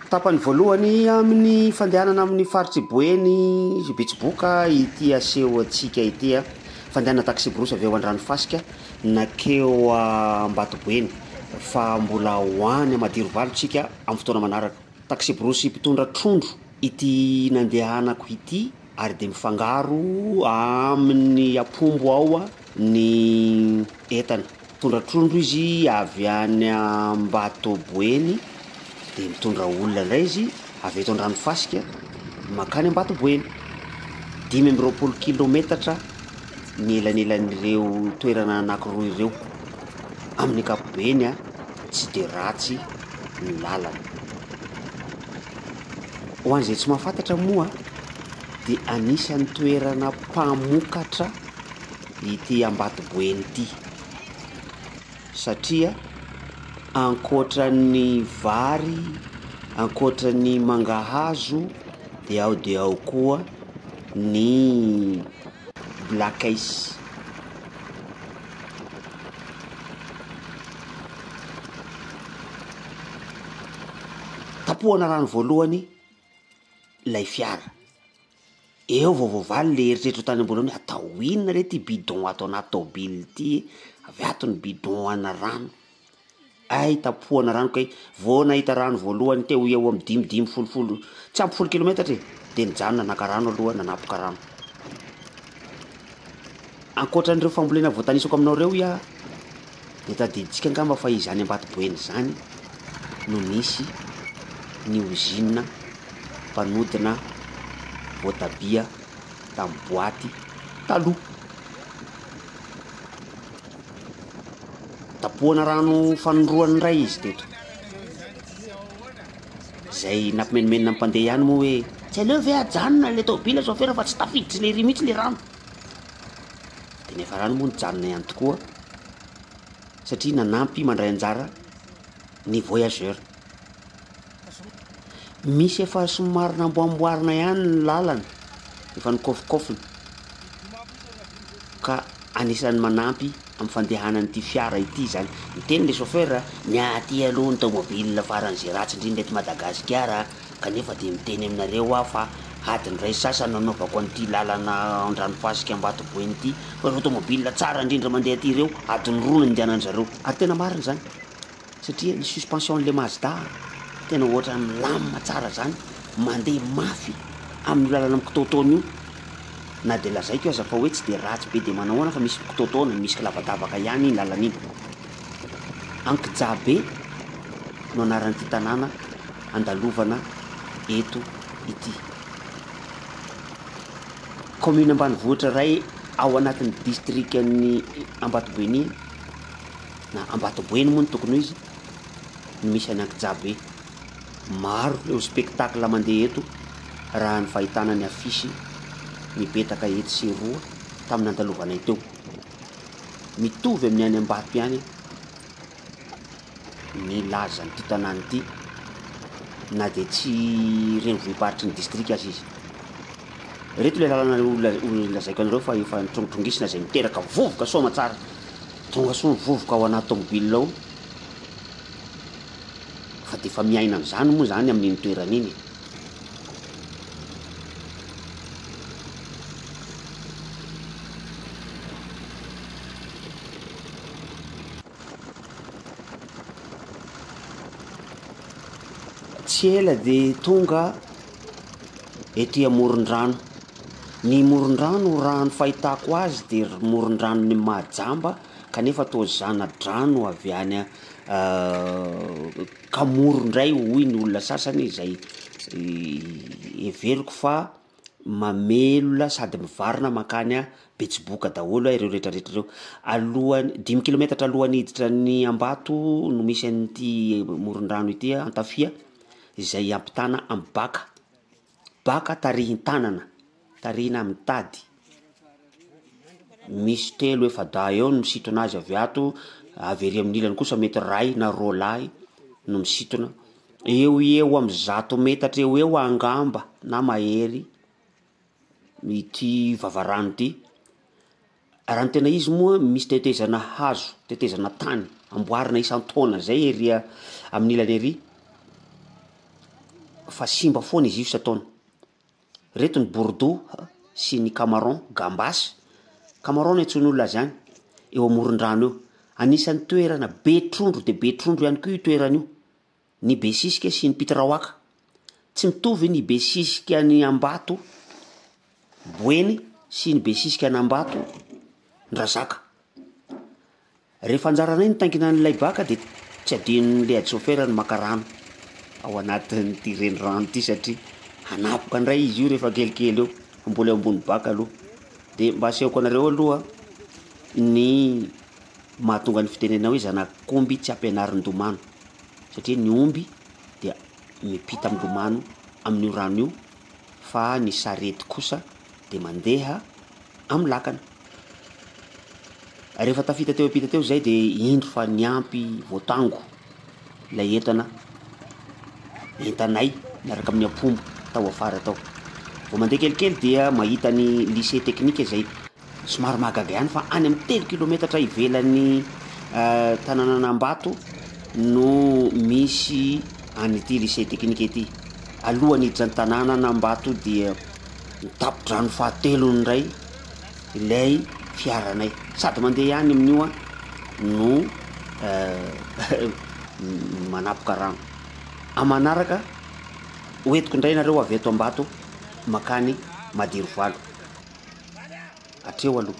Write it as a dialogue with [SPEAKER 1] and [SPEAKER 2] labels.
[SPEAKER 1] Tapany voalohany amin'ny fandehanana amin'ny faritr'i Boeny sy Betsiboka ity aseho antsika ity. Fandehanana taxi-brousse avy ao Andranofasika nankeo Ambatoboeny fa mbola ho any Madirovalo isika amin'ny fotoana manaraka. Taxi-brousse mpitondra trondro ity nandehanako ity ary dia mifangaro amin'ny ampombo ao ny entana. Mitondra trondro izy avy any Ambatoboeny, dia mitondra olona indray izy avy eto Andranofasika mankany Ambatoboeny. Dimy amby roapolo kilaometatra ny elanelan'ireo toerana anankiroa ireo. Amin'ny ankapobeny tsy dia ratsy ny lalana. Ho an'izay tsy mahafantatra moa dia anisan'ny toerana mpamokatra. ity Ambatoboeny ity satria ankoatra ny vary, ankoatra ny mangahazo dia ao dia ao koa ny black ice. Tapohana rano voalohany ilay fiara. Eo vao voavaly ilay eritreritra tany am-boalohany hoe atao inona re ity bidon ato anaty taobily ity e? Avy ato ny bidon ana rano, hay tapohana rano kay, vao nahita rano voalohany teo ho eo amin'ny dimy dimy folo folo tsy ampy folo kilometatra e, dia nijanona naka rano aloha nanapoka rano. Ankoatra an'ireo fambolena voatanisako aminao ireo hoy aho dia tadidintsika angamba fa izany Ambatoboeny izany no nisy ny ozinina mpanodina voatabia tamin'ny boaty taloha. Tapohana rano fanondroany indray izy teto. Izay nampimenomenona ny mpandeha ihany moa hoe tsy aleo ve ajanona ilay taobila chauffeur fa tsy tafiditra ilay ery mihitsy ilay rano. Dia ny hafarana moa nijanona ihany tokoa satria nanampy mandray anjara ny voyageur. Misy efa somary namboamboarina ihany ny lalana, efa nikaofikaofina ka anisan'ny manampy amin'ny fandehanan'ity fiara ity izany. Niteny le chauffeur, ny aty aloha ny tomobile faran'izay ratsy indrindra eto Madagasikara Kanefa dia miteny aminareo aho fa adiny iray sasa no hanaovako an'ity lalana Andranofasika Ambatoboeny ity, fa ireo tomobil tsara indrindra mandeha aty ireo adiny roa no nandehanan'ny zareo. Ary tena marina izany satria ny suspension an'ilay Mazda tena ohatrany milamina tsara izany, mandeha mafy amin'io lalana mikitaotaona io, na dia lazaiko aza fa hoe tsy dia ratsy be dia manahoana fa misy mikitaotaona, misy kilavadavaka ihany iny lalana iny. Ankijabe no anaran'ity tanàna andalovana eto ity. Kaominina ambanivohitra iray ao anatin'ny distrikan'ny Ambatoboenia, na Ambatoboeny moa no tokony ho izy, no misy an'i Ankijabe. Maro ireo spectacle mandeha eto raha ny fahitana ny affiche mipetaka etsy sy eroa tamin'ny nandalovanay teo. Mitovy amin'ny any Ambato ihany ny lazan'ity tanàna ity na dia tsy renivohi-paritry ny distrika aza izy. Ireto ilay lalana lazaiko anareo fa efa nitrongitrongina izay miteraka vovoka soa aman-tsara. Tonga soa ny vovoka ao anaty tômôbila ao fa dia efa miaina an'izany moa izany amin'iny toerana iny. Tsy ela dia tonga ety amoron-drano. Ny moron-drano raha ny fahitako azy dia ry moron-dranon'i Mahajamba kanefa toa zana-drano avy any Ka moro indray hoy ny olona sasany izay heveriko fa mamelona sady mivarina mankany Betsiboka daholo ireo retraretra ireo. Alohan'ny, dimy kilometatra alohan'ny hiditra any Ambato no misy an'ity morondrano ity Antafia izay ampitana amin'ny baka. Baka tarihin-tanana, tarihina amin'ny tady, misy telo efa-dahy eo no misintona azy avy ato, avy ery amin'ny ilany kosa mety ray na roa lahy no misintona, eo ho eo amin'ny zato metatra eo ho eo angamba na mahery ity vavarano ity. Raha ny tena izy moa, misy tetezana hazo, tetezana tany amboarina isan-taona izay ery a- amin'ny ilany ery fa simba foana izy io isan-taona. Ireto ny bourdoux sy ny camaron, gambas, camaron no iantsoan'olona azy any, eo amoron-drano eo. Anisan'ny toerana be trondro dia be trondro ihany koa io toerana io. ny besisika sy ny pitiraoaka. Tsy mitovy ny besisika any Ambato boeny sy ny besisika any Ambato ndrazaka. Rehefa anjaranay ny taingina ny laibaka de tsy adinon'ny leadisôfera ny maka rano ao anatin'ity renirano ity satria hanapoka ndray izy io rehefa kelikely eo fa mbola eo ambony baka aloha. De mba asehoko anareo aloha ny mahatonga ny fitenenana hoe zanak'omby tsy ampianarin-domano. satria ny omby dia miampita milomano amin'io rano io fa ny sarety kosa dia mandeha amin'ny lakana. Rehefa tafita teo ampita teo izay dia indro fa niampy voatango ilay entana entanay miaraka amin'ny ampombo tao afara tao. Vao mandeha kelikely dia mahita ny lycée teknika izay Somary mahagaga ihany fa any amin'ny telo kilometatra ivelan'ny tanànan'Ambato no misy an'ity Lycée teknika ity. Alohan'ny hiditra an-tanànan'Ambato dia ny tampon-drano fahatelo indray ilay fiaranay. Sady mandeha ihany amin'io aho no manapoka rano. Amin'ny manaraka, hoentiko indray ianareo avy eto Ambato mankany Madirovalo. hatreo aloha.